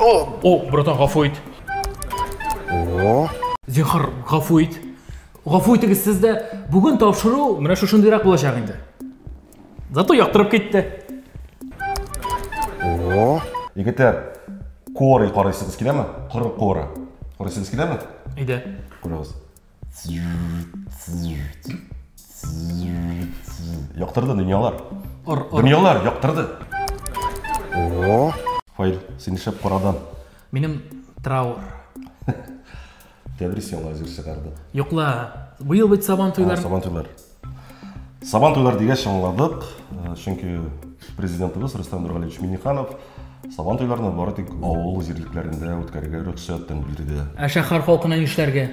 О, братан, гафу ит. О. Зинхар, гафу ит. Гафу итегез сез дә. Бүген тапшыру менә шушындыйрак булачак инде. Зато яктырып китте. О. Егетләр, куоры карыйсыгыз киләме? Коры куоры. Карыйсыгыз киләме? Әйдә. Күрегез. Яктырды дөньялар. Ор, ор. Дөньялар яктырды. О, Фаил, син шәп карадан. Минем траур. Тәбрис яңа җыр чыгарды. Юкла. Быел бит сабан туйлар. Сабан туйлар. Сабан туйлар дигәч аңладык, э, чөнки президентыбыз Рөстәм Нургалиевич Минниханов Сабан туйларны бары тик авыл җирлекләрендә үткәрергә рөхсәттән бирде. Ә шәһәр халкына нишләргә?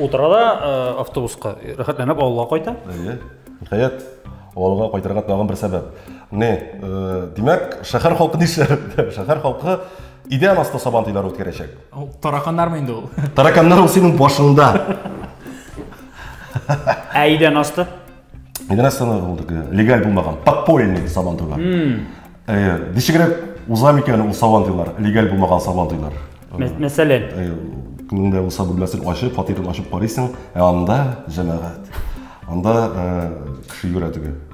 Утыра да э, автобуска, рәхәтләнеп авылга кайта. Әйе. Ниһаять, авылга кайтырга тагын бер сәбәп. Не, э, димәк, шәһәр халкы нишләр? Шәһәр халкы идән асты сабан туйлары үткәрәчәк. Ул тараканнармы инде ул? Тараканнар ул синең башыңда. Ә идән асты? Идән асты ул легаль булмаган, подпольный сабан туйлар. Э, Ничегрәк уза микән ул сабан туйлар, легаль булмаган сабан туйлар? Мәсәлән, э, кемдә булса бүлмәсен ачып, фатирын ачып карыйсың, ә анда җәмәгать. Анда э, кеше йөрә теге.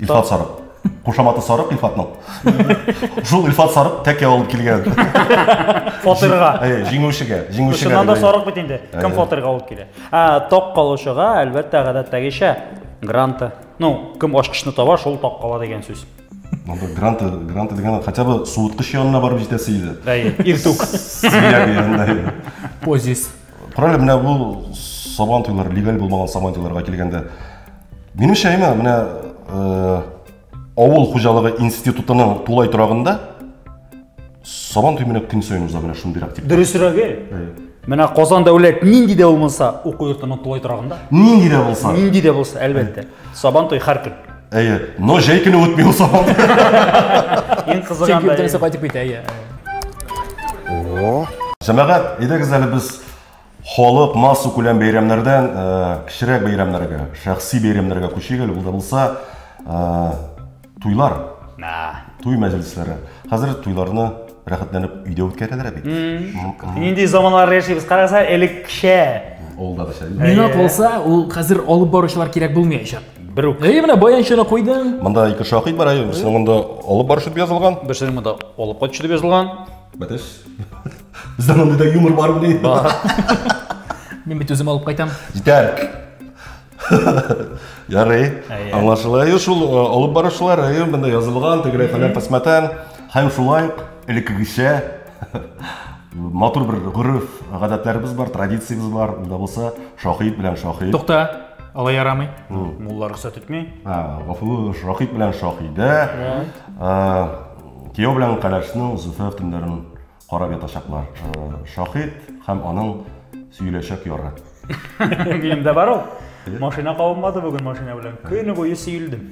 Илфат Сарык. Кушаматы Сарык Илфатның. Шул Илфат Сарык тәкә алып килгән. Фатирга. Әйе, җиңүчегә, җиңүчегә. Шуннан да Сарык бит инде. Кем фатирга алып килә? Ә, ток калучыга, әлбәттә, гадәттәгечә гранты. Ну, кем ачкычны таба, шул ток кала дигән сүз. Монда гранты, гранты дигән хотя бы суыткыч янына барып җитәсе иде. Әйе, иртүк. Сия дигәндә. Позис. Күрәле, менә бу сабан туйлар, легаль булмаган сабан туйларга килгәндә, минемчә, әйме, менә э, авыл хуҗалыгы институтының тулай торагында сабан туй менә көн саен уза менә шундыйрак тип. Дөресрәге, менә Казан дәүләт нинди дә булмаса уку йортының тулай торагында. Нинди дә булса. Нинди дә булса, әлбәттә. Сабан туй һәр көн. Әйе, но җәй көне үтми ул сабан. Иң кызыган Чөнки бөтенесе бәйрәм. кайтып китә, әйе. Җәмәгать, әйдәгез әле без халык массу күләм бәйрәмнәрдән э, кечерәк бәйрәмнәргә, шәхси бәйрәмнәргә күчик әле, ул да булса э, Туйлар. Туй мәҗлесләре. Хәзер туйларны рәхәтләнеп өйдә үткәрәләр бит. Нинди заманнар яшибез, караса, элеккечә. Ул да дәшә. Мина калса, ул хәзер алып баручылар кирәк булмаячак. Бер үк. Әйе, менә баянчыны куйдың. Монда ике шакыйк бар, әйе, берсенең монда алып баручы дип язылган. Берсенең монда алып кайтучы дип язылган. Бәтеш. Бездә монда юмор бар бит. Мин бит үзем алып кайтам. Җитәр. Ярый, аңлашыла. Ю шул э, алып баручылар, ю монда язылган, тегеләй фәлән пәсмәтән. Һәм шулай элеккегечә матур бер гореф, гадәтләребез бар, традициябез бар. Монда булса шахид белән шахид. Тукта, алай ярамый. Мулла рөхсәт итми. А, гафу, шахид белән шахидә. Кияү белән каләшнең зөфәф төннәрен Карап ятачаклар. Шаһит һәм аның сөеләчәк яры. Минем дә бар ул. Машина кабынмады бүген машина белән. Көне буе сөелдем.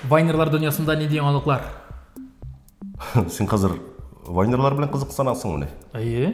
Вайнерлар дөньясында нинди яңалыклар? Син хәзер вайнерлар белән кызыксынасыңмыни? Әйе.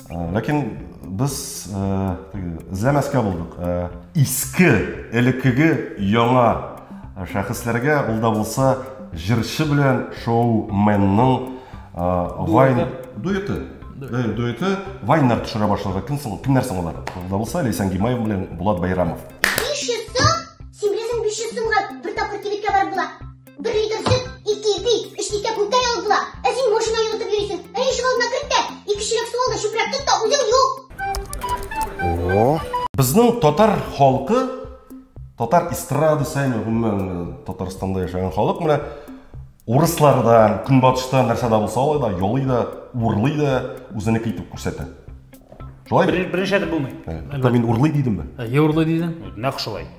Ләкин без теге эзләмәскә булдык. Иске, элеккеге яңа шәхесләргә ул да булса җырчы белән шоуменның вайн дуэты. Дуэты. Дуэты вайннар төшерә башлады. Кем соң, кемнәр соң алар? Ул да булса Ләйсән Гимаев белән Булат Байрамов. 500 сум? Син беләсең, 500 сумга бер тапкыр кибеткә барып була. Бер литр сөт, ике ипи, өч дистә күктә ягып була. Ә син машина йогытып йөрисең. Әни ишек алдына керт тә, ике чиләк су ал да чүпрәк тот та үзең юк. Безнең татар халкы, татар эстрадасы, әйме, гомумән э, Татарстанда яшәгән халык менә урыслардан, көнбатышта нәрсә дә булса алай да, ялый да, урлый да, үзенеке итеп күрсәтә. Шулай бит? Беренчә дә булмый. Ә, Мин урлый дидемме? Е урлый дидең? Нәкъ шулай.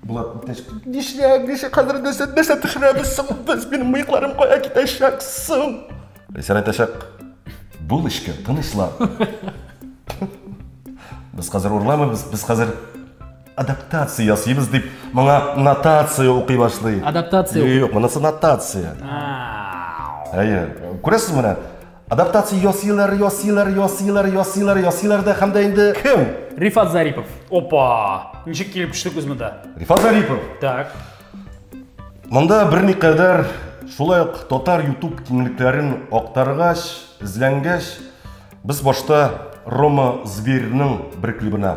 Булат, иптәш, нишләп, нишләп хәзер нәрсә, нәрсә төшерәбез соң без? Минем мыекларым кая китәчәк соң? Ләйсән әйтәчәк, бул эчкә, тынычлан. Без хәзер урламыйбыз, без хәзер адаптация ясыйбыз дип, моңа нотация укый башлый. Адаптация укый. Юк, монысы нотация. Әйе, күрәсез менә, Адаптация ясыйлар, ясыйлар, ясыйлар, ясыйлар, ясыйлар да һәм дә инде кем? Рифат Зарипов. Опа! Ничек килеп төштек без монда? Рифат Зарипов. Так. Монда берникадәр шулай ук татар YouTube киңлекләрен актаргач, эзләнгәч, без башта Рома Зверьның бер клибына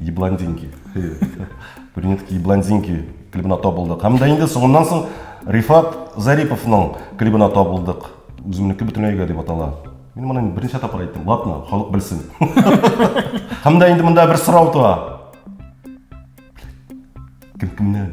Ебландинки. Брюнетки Ебландинки клибына табылдык. Һәм дә инде соңыннан соң Рифат Зариповның клибына табылдык. Үземнеке бөтенләйгә дип атала. Мин моны берничә тапкыр әйттем. Ладно, халык белсен. Һәм дә инде монда бер сорау туа. Кем кемнән?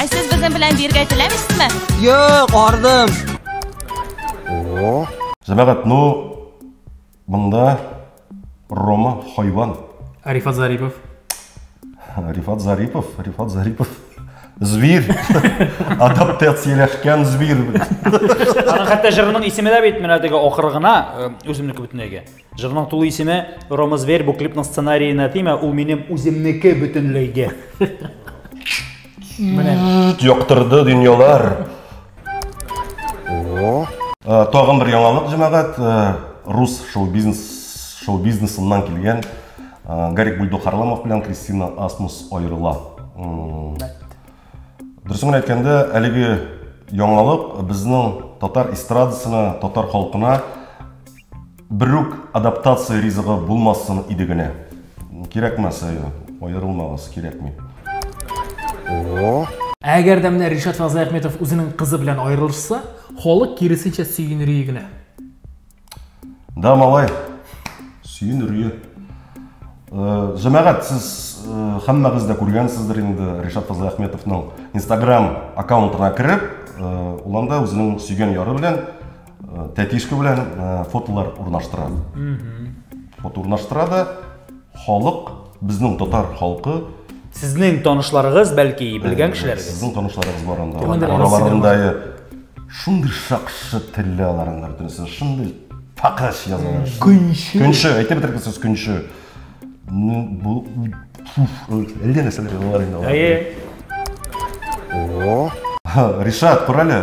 Ә сез безнең белән биргә теләмисезме? Юк, ардым. О. Җәмәгать, ну монда Рома хайван. Арифат Зарипов. Рифат Зарипов, Рифат Зарипов. Зверь. Адаптацияләшкән зверь. Аның хәтта җырының исеме дә бит менә теге ахыргына, үземнеке бөтенләйгә. Җырның тулы исеме Рома Зверь, бу клипның сценариена тимә, ул минем үземнеке бөтенләйгә. Менә. Яктырды дөньялар. О. Э, тагын бер яңалык, җәмәгать, э, рус шоу-бизнес шоу-бизнесыннан килгән э, Гарик Бульдок Харламов белән Кристина Асмус аерыла. Дөресен генә әйткәндә, әлеге яңалык безнең татар эстрадасына, татар халкына Берүк адаптация ризыгы булмасын иде генә. Кирәкмәс, әйе, аерылмагыз, кирәкми. Әгәр дә менә Ришат Фазлыәхметов үзенең кызы белән аерылышса, халык киресенчә сөенерие генә. Да, малай, сөенерие. Э, Җәмәгать, сез э, һәммәгез дә күргәнсездер инде Ришат Фазлыәхметовның Instagram аккаунтына кереп, э, ул анда үзенең сөйгән яры белән Э, тәтишка белән э, фотолар урнаштыра фото урнаштыра да халык безнең татар халкы сезнең танышларыгыз бәлки белгән э, кешеләрегез сезнең танышларыгыз бар анда араларында шундый шакшы телле алар анда бөтенесе шундый такыш язалар көнче көнче әйтеп бетердек сез көнче бу әллә нәрсәләр язалар инде алар ришат күр әле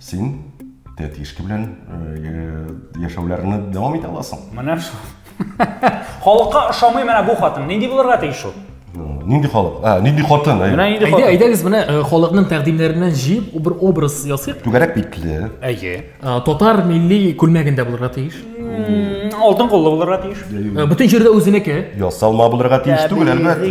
Син тәтишка белән яшәүләрне дәвам итә аласың. Менә шул. Халыкка ошамый менә бу хатын. Нинди булырга тиеш ул? Нинди халык? А, нинди хатын? Менә нинди хатын? Әйдәгез менә халыкның тәкъдимнәреннән җыеп бер образ ясыйк. Түгәрәк битле. Әйе. Татар милли күлмәгендә булырга тиеш. Алтын куллы булырга тиеш. Бөтен җирдә үзенеке. Ясалма булырга тиеш түгел, әлбәттә.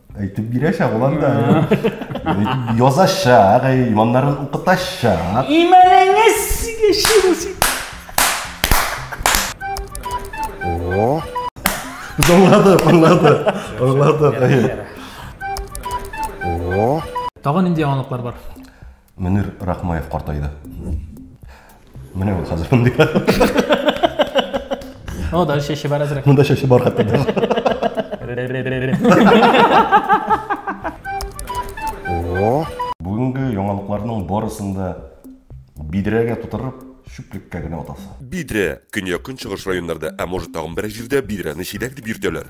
Әйтеп бирәчәк ул анда. Язачак, иманнарын укытачак. Имәнеңез яши булсын. О. Аңлады, аңлады. Аңлады. О. Тагын нинди яңалыклар бар? Мөнир Рахмаев картайды. Менә ул хәзер мондый. Ну, да, чәче бар әзрәк. Монда чәче бар хәтта. Бүгенге яңалыкларның барысын да бидрәгә тутырып, чүплеккә генә атасы. Бидрә, көньяк-көнчыгыш районнарда, ә может тагын берәр җирдә бидрәне чиләк дип йөртәләр.